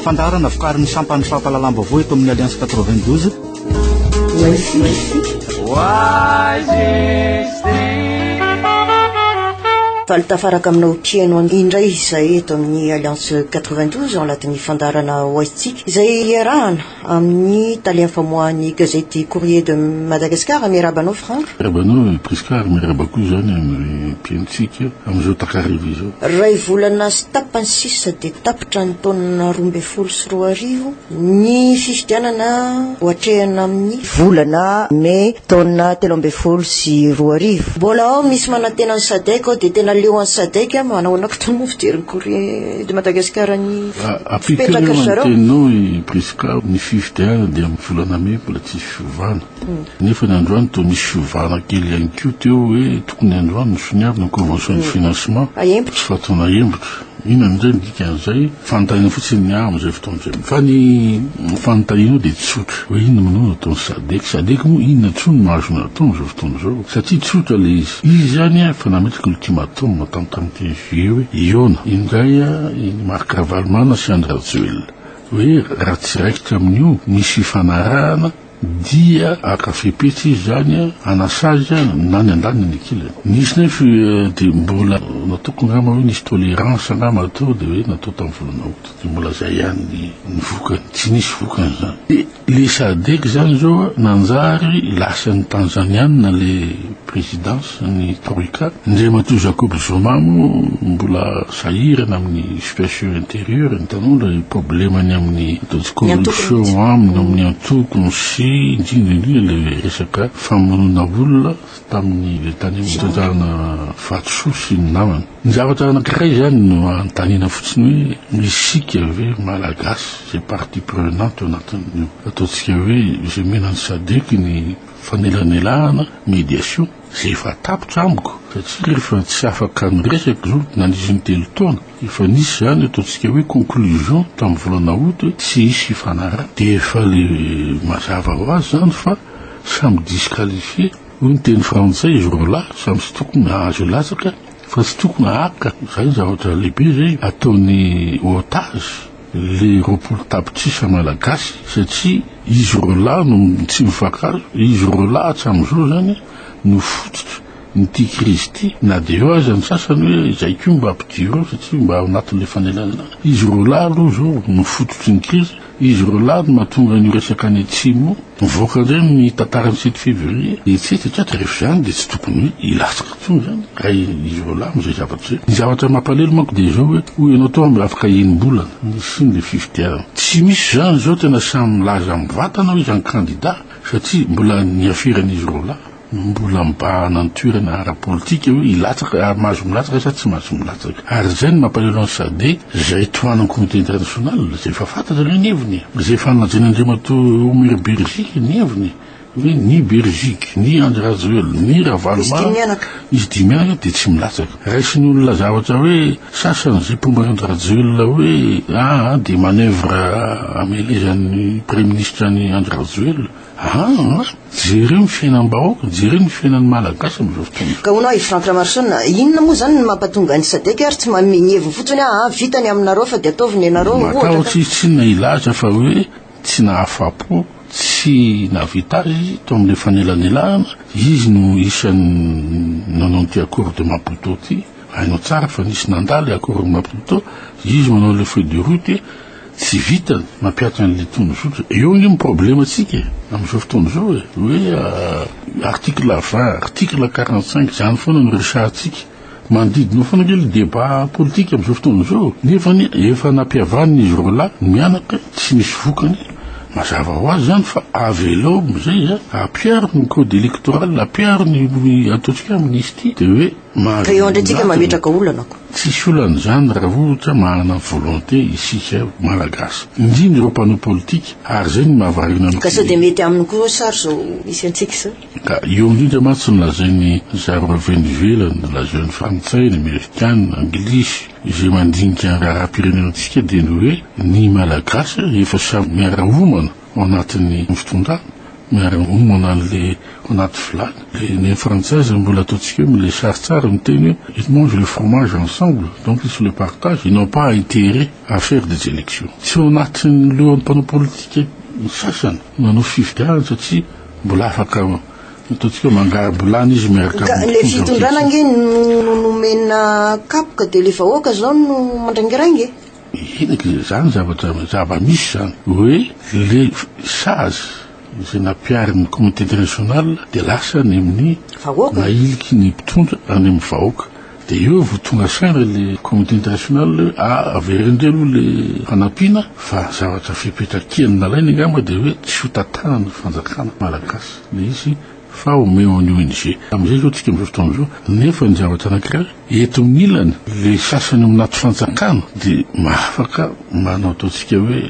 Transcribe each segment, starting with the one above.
Fandaharana vokarin'ny sampan'ny fampahalalam-baovao eto amin'ny Alliance 92. Faly tafaraka aminao mpihaino indray izay eto amin'ny Alliance 92 ao anatin'ny fandaharana Oaisitsika izay iarahana Amin'ny tale famoahan'ny gazety Courrier de Madagascar, miarahaba anao Franck. Miarahaba anao Prisca ary miarahaba koa izany amin'ny mpihainotsika amin'izao takariva izao. Iray volana sy tapany sisa dia tapitra ny taona roa ambin'ny folo sy roa arivo ny fifidianana ho atrehina amin'ny volana mey taona telo ambin'ny folo sy roa arivo. Mbola ao misy manantena ny Sadec ao dia tena leo an'i Sadec manao anao koa tao moa fijery ny Courrier de Madagascar ny Ampitso anie ny teninao i Prisca, ny fifidianana dia amin'ny volana mey mbola tsisy fiovana, nefa ny androany toa misy fiovana kely ihany koa teo hoe tokony androany no soniavina ny convention de financement, tsy fatao nahembotra, inona indray ny dikan'izay, fanontaniana fotsiny ny ahy amin'izay fotoana izay, fa ny fanontanianao dia tsotra hoe inona moa no ataon'i Sadec, Sadec moa inona intsony no azony atao amin'izao fotoana izao, satria tsotra ilay izy, izy ihany efa nametraka ultimatum tamin'ny comité. Io Iona, iny indray i Marc Ravalomanana sy Andry Rajoelina. Hoe raha tsy raikitra amin'io misy fifanarahana dia haka fepetra izy izany hanasazy na ny andaniny na ny ankilany. Nisy nefa dia mbola nataoko angamba hoe nisy tolérance angamba teo dia hoe natao tamin'ny volana août. Dia mbola zay ihany ny ny vokany, tsy nisy vokany izany. Dia le sadec izany zao a, nanjary lasan'ny Tanzaniana le présidence ny troika, Andriamatoa Jacob Zuma moa mbola sahirana amin'ny situation intérieure, hitanao le problemany amin'ny ataontsika hoe relation aminy amin'ny antokony sy indrindra indrindra le resaka famonoana olona, tamin'ny letania mitratrarina vatosoa sy ny namany. Ny zavatra anankiray izany no anontaniana fotsiny hoe ny isika ve Malagasy izay partie prenante ao anatin'ny ataontsika hoe izay mena ny sadec ny fanelanelahana, médiation, izay efa tapitra amiko satria rehefa tsy afaka miresaka izao na nisy intelo taona efa nisy izany ataontsika hoe conclusion tamin'ny volana août hoe tsy hisy fifanarahana dia efa le mazava ho azy izany fa Samy disqualifié, hoy ny teny frantsay izy roa lahy, samy tsy tokony hahazo hilatsaka fa tsy tokony hahaka, izay ny zavatra lehibe izay ataon'ny otage le roapolo tapitrisa malagasy satria izy roa lahy no tsy mifankahazo, izy roa lahy hatramin'izao izany no fototra n'ity crise ity, na dia eo aza ny sasany hoe izay koa mba ampidirao satria mba ao anatin'ilay fanelanelana, izy roa lahy aloha izao no fototry ny crise. Izy roa lahy no mahatonga an'io resaka any atsimo mivoaka indray amin'ny tantara ny sept février dia tsy hita tsatra rehefa izany dia tsy tokony hoe hilatsaka intsony izany raha izy roa lahy no izay zavatra izay. Ny zavatra mampalelo manko dia izao hoe hoy ianao teo aho mba afaka enim-bolana ny hisiany ilay fifidianana. Tsy misy izany izao tena samy milaza amin'ny vatana hoy izy ny kandida satria mbola ny aferan'izy roa lahy. Mbola mibahana ny toerana ara-politika hoe hilatsaka ary mahazo milatsaka sa tsy mahazo milatsaka. Ary izay no mampalahelo an'i Sadec izay tohanan'ny communauté internationale izay efa fantatra aloha ny heviny e! Izay efa nolazain'Andriamatoa Omer Bergic ny heviny hoe ny Bergic, ny Andry Rajoelina, ny Ravaloman, izy dimy mianaka dia tsy milatsaka. Raisin'ny olona zavatra hoe sasany izay mpomba an'Andry Rajoelina hoe aa dia manœuvre amelezan'ny Praiminisitra an'i Andry Rajoelina. Aa! jereo ny fiainam-bahoaka, jereo ny fiainan'ny Malagasy amin'izao fotoana izao. Ka hono ahy Franck Ramarison, inona moa izany no mampatonga an'i Sadec ary tsy manome ny heviny fotsiny hoe aa vita ny aminareo fa dia ataovy nenareo ohatra ka. Matahotra izy tsinona hilaza fa hoe tsy nahafapo, tsy nahavita azy izy tao amin'ilay fanelanelana, izy no isan'ny nanao an'ity accord de Maputo ity, hainao tsara fa nisy nandà ilay accord de Maputo, izy manao ilay feuille de route, Tsy vita ny mampiatra an'ilay tony zotra. Eo ange ny problemantsika e, amin'izao fotoana izao e, hoe article vingt, article quarante cinq, izany foana no resahantsika. Manodidina eo foana ange ilay débat politique amin'izao fotoana izao, nefa anie efa nampihavanina izy roa lahy mianaka tsy nisy vokany. Mazava ho azy izany fa avelao amin'izay a, ampiaro ny code électoral, ampiaro ny ataontsika hoe amnistie dia hoe. Mahazo vola atony. Tsisy olana izany raha ohatra manana volonté isika Malagasy. Indrindra ireo mpanao politika ary izay no mahavariana ny. Ka sao dia mety aminy koa sa ry izao misy antsika izao. Ka eo indrindra mantsy ny lazainy zareo avy any ivelany, lazao ny frantsay, ny amerikana, anglisy, izay mandinika ny raharaham-pirenena antsika dia ny hoe ny Malagasy efa samy miara-homana. ao anatin'ny fitondràna, miara miomana an'ilay ao anaty vilany, ilay neny frantsay zay mbola ataontsika hoe mile sary tsara miteny hoe ils mangent le fromage ensemble donc ils se le partagent, ils n'ont pas à intere à faire des elections. Tsy ao anatin'ny lohan'ny mpanao politika ny sasany no hanao fifidianana satria mbola afaka ataontsika hoe mangarom-bilany izy miaraka Ka ilay amin'ny fitondràna ange no no nomena kapoka dia ilay vahoaka izao no mandraingirainga e! Henaky izay zany zavatra zava-misy zany hoe le sazy izay nampiharin'ny communauté internationale dia lasa any amin'ny Vahoaka. mahiliky ny mpitondra any amin'ny vahoaka dia eo vao tonga saina le communauté internationale hoe a averindreo aloha le fanampiana fa zavatra fepetra kian'ny nalainy angamba dia hoe tsy ho tantanan'ny fanjakana malagasy le izy fa omeo an'ny ONG. Amin'izay izao isika amin'izao fotoana izao, nefa ny zavatra anankiray, eto amin'ny ilany, ilay sasany ao anaty fanjakana dia mahafaka manao ataontsika hoe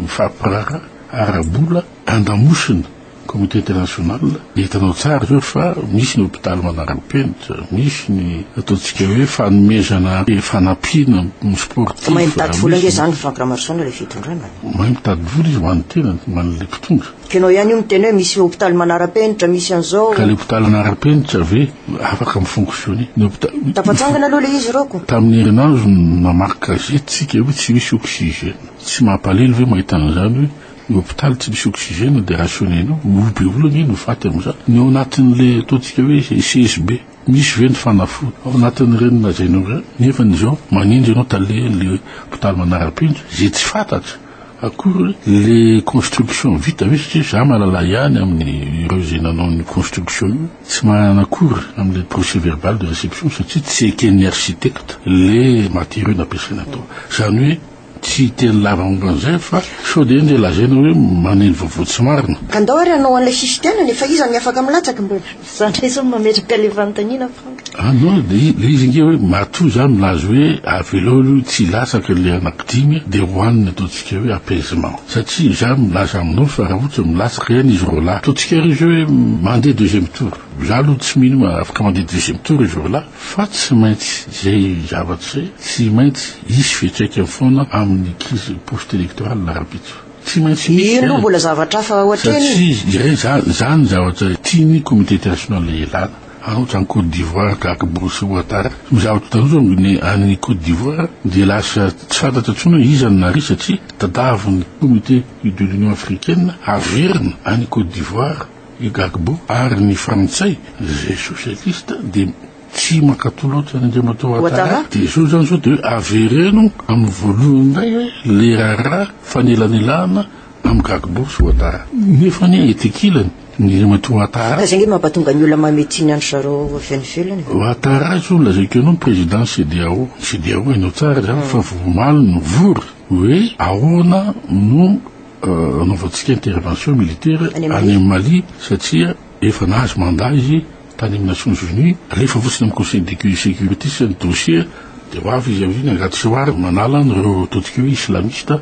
mifampiraharaha ara-bola andamosina communauté internationale. Hitanao tsara izao fa misy ny hopitaly manara-penitra, misy ny ataontsika hoe fanomezana fanampiana ny sportif. Mahay mitady vola ange izany Franck Ramarison ilay fitondrana. Mahay mitady vola izy ho an'ny tenany, ho an'ilay mpitondra. Ianao ihany io miteny hoe misy hopitaly manara-penitra, misy an'izao. Ka le hopitaly manara-penitra ve afaka mi-fonctionner? Ny hopitaly. Tafatsangana aloha le izy Roko. Tamin'ny herinandro namaky gazety tsika hoe tsy misy oxygène. Tsy mampalahelo ve mahita an'izany hoe ny hopitaly tsy misy oxygène dia rationner-nao? Roa be olona ange no faty amin'izany. Ny ao anatin'le ataontsika hoe CSB. Misy ve ny fanafody ao anatin'ireny lazainao ireny? Nefa izao manenjy ianao tale le hopitaly manarapenitra izay tsy fantatra akory hoe le construction vita ve satria za malala ihany aminy ireo izay nanao ny construction io tsy manana akory amle procès verbal de reception satria tsy eken'ny architecte le matériaux nampiasaina tao izany hoe Tsy hiteny lava momba an'izay fa sao dia ndeha lazaina hoe maneno vaovao tsy marina. Ka ndao ary hanao an'ilay fifidianana e, fa iza ny afaka milatsaka mbola. Za ndray zao mametraka le fanontaniana Franck. Ah non, le izy ange hoe matoa za milaza hoe avelao aloha tsy hilatsaka le anaky dimy e, dia ho any ny ataontsika hoe apaisement. Satria za milaza aminao fa raha ohatra milatsaka ihany izy roalahy, ataontsika ary izy hoe mandeha deuxième tour. Za aloha tsy mino hoe afaka mandeha deuxième tour izy roalahy. Fa tsy maintsy izay zavatra izay tsy maintsy hisy fiantraikany foana amin'ny crise post electorale rahampitso. Tsy maintsy misy izany. Eny no mbola zavatra hafa ohatreny e. Satria iray izany, izany ny zavatra tian'ny communauté internationale hilana. Ary ohatra any Côte d'Ivoire tahaka Bruce Ouattara, ny zavatra tandrozany ny any Côte d'Ivoire dia lasa tsy fantatra intsony hoe iza no nary satria tadavin'ny comité de l'Union africaine averina any Côte d'Ivoire. I Gbagbo ary ny frantsay izay sosialista dia tsy mankatò loatra an' Andriamatoa Ouattara dia izao izany izao dia hoe avereno amin' ny voalohany indray hoe le raharaha fanelanelana amin' Gbagbo sy Ouattara nefa anie ety ankilany ny Andriamatoa Ouattara. Fa izay ange no mampatonga ny olona mamehy tsiny an-dry zareo avy any ivelany e. Ouattara izao no lazaiko anao ny président ny CEDEAO, ny CEDEAO hainao tsara izany fa vao omaly no nivory hoe ahoana no Anaovantsika intervention militaire any amin'ny Mali satria efa nahazo mandat izy tany amin'ny Nations Unies, alefa fotsiny amin'ny Conseil de sécurité sisa ny dossier dia ho avy izy aoriana angady sy wary manala an'ireo totik'io islamiste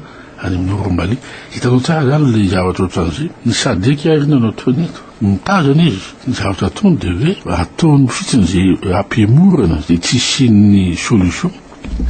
any amin'ny Nord Mali. Hitanao tsara izany ilay zavatra ohatran'izay. Ny Sadec ary inona no ataony eto? Mitazana izy, ny zavatra ataony dia hoe ataony fotsiny izay hampihemorana izay tsy hisian'ny solution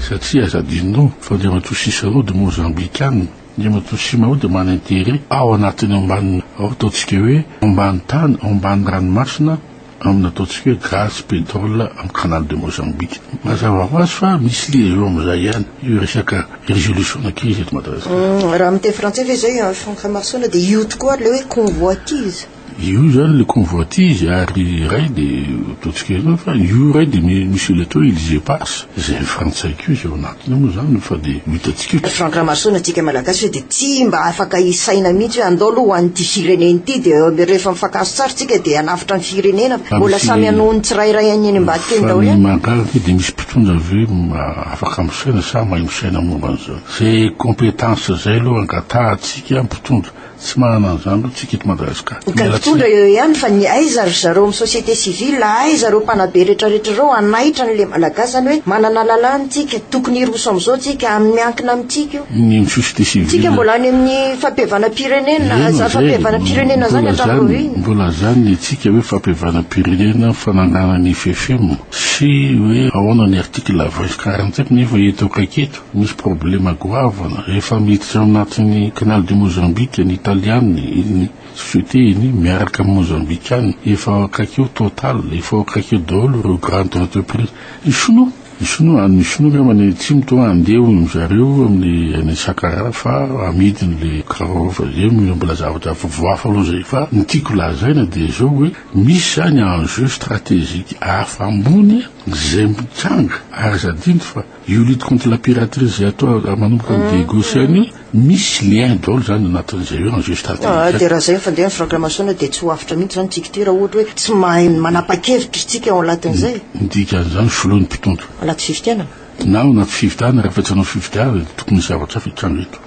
satria aza adinonao fa Andriamatoa Cicero dia Mozambikana. Ny matoa Simao dia mana interet ao anatin'ny ambany ao ataontsika hoe ambany tany ao ambany ranomasina amin'ny ataontsika hoe gaz, pétrole amin'ny canal de Mozambique. Mazava ho azy fa misy liaison amin'izay ihany io resaka résolution na crise eto Madagasikara. Raha miteny frantsay ve izay Franck Hamarson dia io tokoa ary ilay hoe convoitise. Io izany ilay convoitise ary iray dia ataontsika izao fa io iray dia misy ilay atao hoe îles éparses izay ny frantsay koa izy ao anatiny moa izany fa dia ho hitantsika eo. Franck Ramason antsika malagasy hoe dia tsy mba afaka hisaina mihitsy hoe andao aloha ho an'ity firenena ity dia rehefa mifankahazo tsara isika dia hanavotra ny firenena fa mbola samy hanohy ny tsirairay any eny ambadik'eny daholo ihany. Fa ny mahagaga ve dia misy mpitondra ve afaka misaina sa mahay misaina momba an'izany? Izay compétence izay aloha angatahantsika mpitondra Tsy manana an'izany aloha tsika eto Madagascar. Ny mpitondra eo ihany fa ny aiza ry zareo amin'ny société civile a, aiza ireo mpanabe retraretra ireo hanaitra an'le Malagasy izany hoe manana lalàna tsika, tokony hiroso amin'izao tsika, amin'ny miankina amintsika io. Ny amin'ny société civile. Tsika mbola any amin'ny fampihavanam-pirenena, Eno zany fampihavanam-pirenena zany hatramin'ny roa heny. Mbola zany ny antsika hoe fampihavanam-pirenena, fananganana ny FFM sy hoe ahoana ny article vingt sy quarante sept nefa eto akaiky eto. Misy problema goavana, rehefa miditra ao anatin'ny Canal de Mozambique ny Italiana, ny société-ny miaraka amin'ny Mozambikana, efa ao akaiky eo Total, efa ao akaiky eo daholo ireo grande entreprise. Ny Sinoa, ny Sinoa, ny Sinoa angamba any Atsimo toa handeha hoy ny zareo amin'ny any Sakara fa amidy ny le carro fa zay no mbola zavatra vaovao hafa aloha zay. Fa ny tiako lazaina dia izao hoe misy zany enjeu stratégique hafa ambony izay mitranga ary aza adino fa Io lutte contre la piraterie zay atao raha manomboka ny Diego sy anio misy lien daholo zany anatin'izay eo en jeu stratégique. Ah, dia raha zay ny fandehany fragramation dia tsy ho afitra mihitsy zany tsika ity raha ohatra hoe tsy mahay manapa-kevitra isika ao anatin'izay. Ny mm, dikan'izany filoha ny mpitondra. Anaty fifidianana. Na ao anaty fifidianana, rehefa tsy anao fifidianana dia tokony misy zavatra hafa hitranga eto.